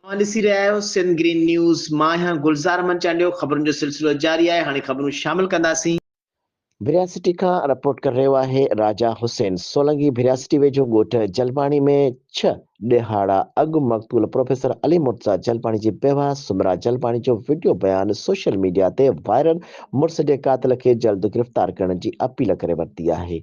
اوهان ڏسي رهيا آهيو سنڌ گرين نيوز مان آهيان گلزار احمد چانڊيو خبرن جو سلسلو جاري آهي هاڻي خبرون شامل ڪنداسين. ڀرياسٽي کان رپورٽ ڪري رهيو آهي راجا حسين. سولنگي ڀرياسٽي ويجهو ڳوٺ جلباڻي ۾ ڇهه ڏهاڙا اڳ مقتول پروفيسر علي مرتضيٰ جلباڻي جي بيوه سمرا جلباڻي جو وڊيو بيان سوشل ميڊيا تي وائرل مڙس جي قاتل کي جلد گرفتار ڪرڻ جي اپيل ڪري ورتي آهي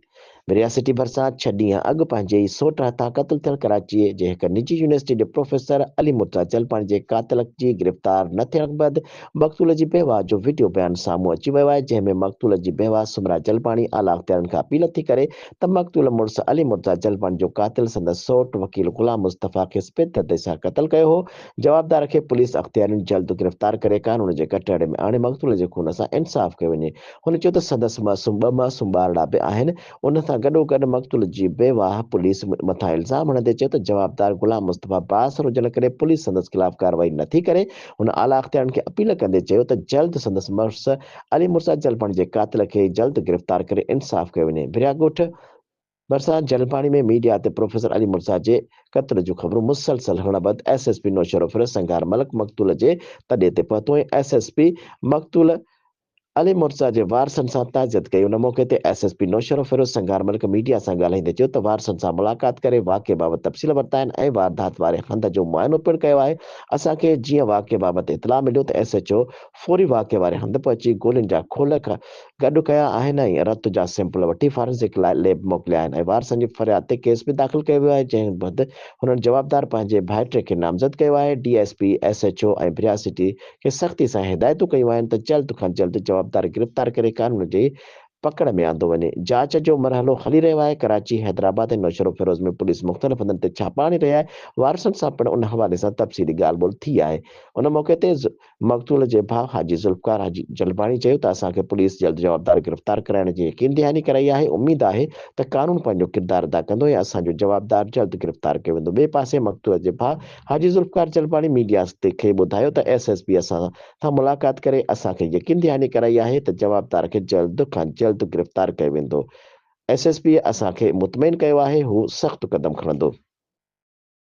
مريا سٽي ڀرسان ڇهه ڏينهن اڳ پنهنجي ئي سوٽ هٿان قتل ٿيل ڪراچيء جي هڪ نجي يونيورسٽيء جي پروفيسر علي مرتضيٰ چلپاڻي جي قاتلڪ جي گرفتار نه ٿيڻ کان بعد مقتول جي بيواه جو وڊيو بيان سامهون اچي ويو آهي جنهن ۾ مقتول جي بيواه سومرا چلپاڻي اعليٰ اختيارين کان اپيل ٿي ڪري ته مقتول مڙس علي مرتضيٰ چلپاڻي جو قاتل سندس سوٽ وڪيل غلام مصطفيٰ کيس پيت دردي سان قتل ڪيو هو جوابدار کي پوليس اختيارين جلد گرفتار ڪري قانون جي ڪٽهڙي ۾ آڻي مقتول جي خون سان انصاف ڪيو وڃي هن چيو ته سندس معصوم ٻه معصوم ٻارڙا به آهن، ان سان گڏوگڏ مقتول جي بيواهه پوليس مٿان الزام هڻندي چيو ته جوابدار غلام مصطفيٰ بااثر هجڻ ڪري پوليس سندس خلاف ڪارروائي نٿي ڪري، هن اعليٰ اختيارين کي اپيل ڪندي چيو ته جلد سندس مڙس علي مرزا جلبڻ جي قاتل کي جلد گرفتار ڪري انصاف ڪيو وڃي، ڀريا ڳوٺ. ڀرسان جلپاڻي ۾ ميڊيا تي پروفيسر علي مرزا جي قتل جون خبرون مسلسل هلڻ بعد ايس ايس پي نوشهرو ڦر سنگار ملڪ مقتول جي تڏي تي پهتو ۽ ايس ايس پي مقتول علي مرزا جي وارثن سان تعزيت ڪئي ان موقعي تي S S P Naushahro Feroz Singar Malik media سان ڳالهائيندي چيو ته وارثن سان ملاقات ڪري واقعي بابت تفصيل ورتا آهن ۽ واردات واري هنڌ جو معائنو پڻ ڪيو آهي اسان کي جيئن واقعي بابت اطلاع مليو ته ايس ايڇ او فوري واقعي واري هنڌ پهچي گولين جا کولڪ گڏ ڪيا آهن ۽ رت جا سيمپل وٺي فارنسڪ لاء ليب موڪليا آهن ۽ وارثن جي فرياد تي ڪيس به داخل ڪيو ويو آهي جنهن بعد هنن جوابدار پنهنجي ڀائٽي کي نامزد ڪيو آهي D S P S H O ۽ بريا سٽي کي سختي سان هدايتون ڪيون آهن ته جلد کان جلد جوابدار گرفتار ڪري قانون جي پڪڙ ۾ آندو وڃي جاچ جو مرحلو هلي رهيو آهي ڪراچي حيدرآباد ۽ نوشهروفيروز ۾ پوليس مختلف هنڌن تي ڇاپا هڻي رهي آهي وارثن سان پڻ ان حوالي سان تفصيلي ڳالهه ٻولهه ٿي آهي ان موقعي تي مقتول جي ڀاء حاجي ذوالفقار حاجي جلباڻي چيو ته اسان کي پوليس جلد جوابدار گرفتار ڪرائڻ جي يقين دهاني ڪرائي آهي، اميد آهي ته قانون پنهنجو ڪردار ادا ڪندو ۽ اسان جو جوابدار جلد گرفتار ڪيو ويندو، ٻئي پاسي مقتول جي ڀاء حاجي ذوالفقار جلباڻي ميڊيا کي ٻڌايو ته ايس ايس پي اسان سان ملاقات ڪري اسان کي يقين دهاني ڪرائي آهي ته جوابدار کي جلد کان جلد گرفتار ڪيو ويندو، ايس ايس پي اسان کي مطمئن ڪيو آهي هو سخت قدم کڻندو.